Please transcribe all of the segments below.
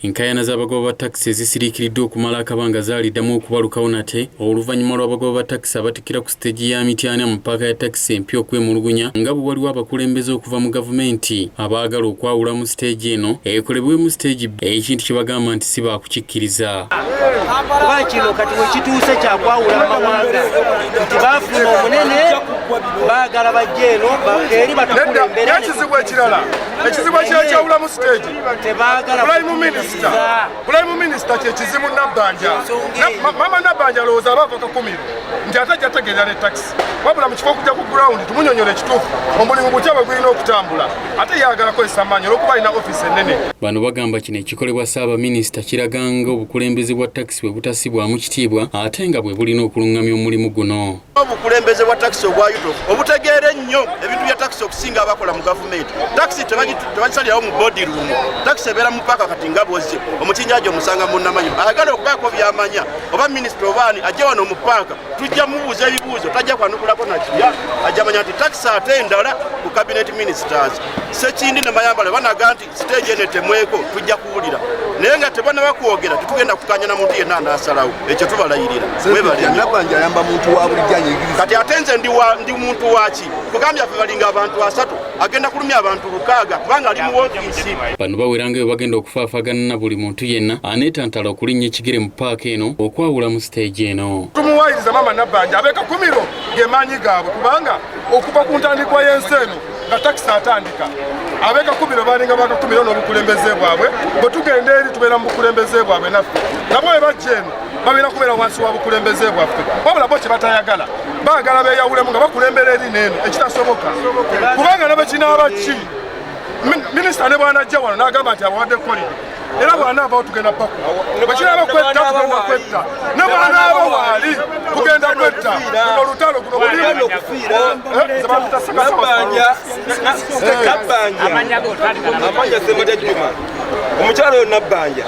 Enkaayana z'abagoba ba takisi ezisiriikiridde okumala akabanga zaaliddamu okubalukawo nate oluvannyuma lw'abagoba ba takisi abatikkira ku siteegi ya Mityana mu ppaaka ya takisi empya okwemulugunya nga bwe waliwo abakulembeze okuva mu gavumenti abaagala okwawulamu siteegi eno ekolebwemu siteegi ekintu kye bagamba nti si baakukikkiriza kuba kino kati wekituuse kyakwawula amawanga nti baafuna omunene baagala bajja eno eri batukulemberaekizibu ekirala ekizibu ekyekyawulamu siteegi Prime Minister, Prime Minister kyekizibu Nabbanja. Mama Nabbanja alowooza aba ava kakumiro nti ate ajja tegeera ne taxi. Wabula mu kifo okujja ku ground tumunyonyola ekituufu omulimu gutya bwe gulina okutambula ate yayagala kozesa amaanyi olwokuba alina ofiisi ennene. Bano bagamba kino ekikolebwa Ssaabaminisita kiraga nga obukulembeze bwa taxi bwe butasibwamu kitiibwa ate nga bwe bulina okulungamya omulimu guno. obukulembeze bwa takisi obwa yuto obutegeera ennyo ebintu bya takisi okusinga abakola mu gavumenti takisi tebagisalirawo mu bodi ruumu takisi ebeera mu paaka kati nga bwozze omukinjaji omusanga munamanyi ayagala okubaako byamanya oba minisita obaani ajja wano mu paaka tujja mubuuza ebibuuzo tajja kwanukulako nakiya ajja manya nti takisi ate endala ku kabineti minisitaazi sekindi ne mayambala banaga nti siteegi eno etemweko tujja kuwulira naye nga tebana bakwogera tetugenda kukanya na muntu yenna anasalawo ekyo tubalayirira kati ate nze ndi muntu waki kugambya fe balinga abantu asatu agenda kulumya abantu lukaaga kubanga ali muwofisi bano baweranga ebyo bagenda okufaafagana na buli muntu yenna aneetantala okulinnya ekigere mu paaka eno okwawula mu siteegi eno tumuwayiriza maama nabbanja abekakumiro gemaanyi gaabwe kubanga okuva ku ntandikwa y'ensi eno nga takisi atandika abekakubiro balinga bakakumiro n'obukulembeze bwabwe bwe tugenda eri tubeera mu bukulembeze bwabwe naffe nabo bwe bajja eno babeera kubeera wansi wa bukulembeze bwaffe wabula bo kye batayagala baagala beeyawulemu nga bakulembera eri neeno ekitasoboka kubanga nabekinaaba ki minisita ne bwanajja wano n'agamba nti abawadde kolidi era bwanaavawo tugenda paku bwekiraba kwetta tugenda kwetta ne bwanaaba waali tugenda kwetta guno olutalo guno omukyalo yo nabbanja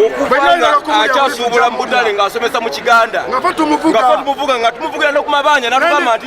okubanga akyasuubula mu butale ng'asomesa mu kiganda nga tumuvuga nga tumuvugira nokumabanja natugamba nti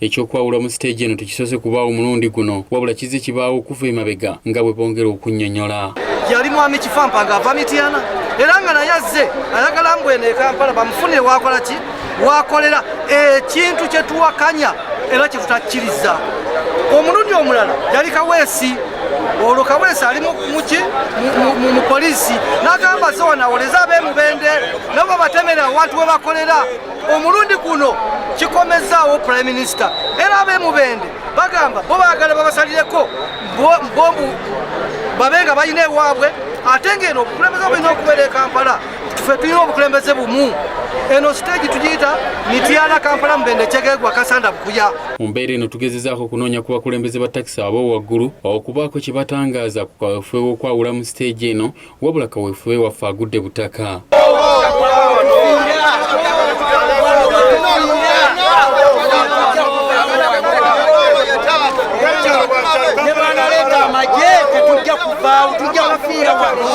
ekyokwawula mu siteegi eno tekisoose kubaawo omulundi guno wabula kizze kibaawo okuva emabega nga bwe bongera okunyonyola yali mwami kifampa nga ava mityana era nga naye azze ayagala mbwene ekampala bamufunire wakola ki wakolera ekintu kyetuwakanya era kyetutakkiriza omulundi omulala yali kaweesi olwo kaweesi ali muki mu polisi nagamba zewanawoleza abemubende nabo batemera awantu webakolera omulundi guno kikomezzaawo prime minister era abemubende bagamba bo bagala babasalireko mbombu babe nga balina ewaabwe ate ngaeno obukulembeze bulina okubeera e kampala fe tulina obukulembeze bumu eno siteegi tugiyita mityana kampala mubende kyegegwa kasanda bukuya mu mbeera eno tugezezaako okunoonya ku bakulembeze ba takisi abo waggulu okubaako kye batangaaza ku kawefube w'okwawula mu siteegi eno wabula kaweefube waffe agudde butaka tujja kuvaawo tujja kufiira wano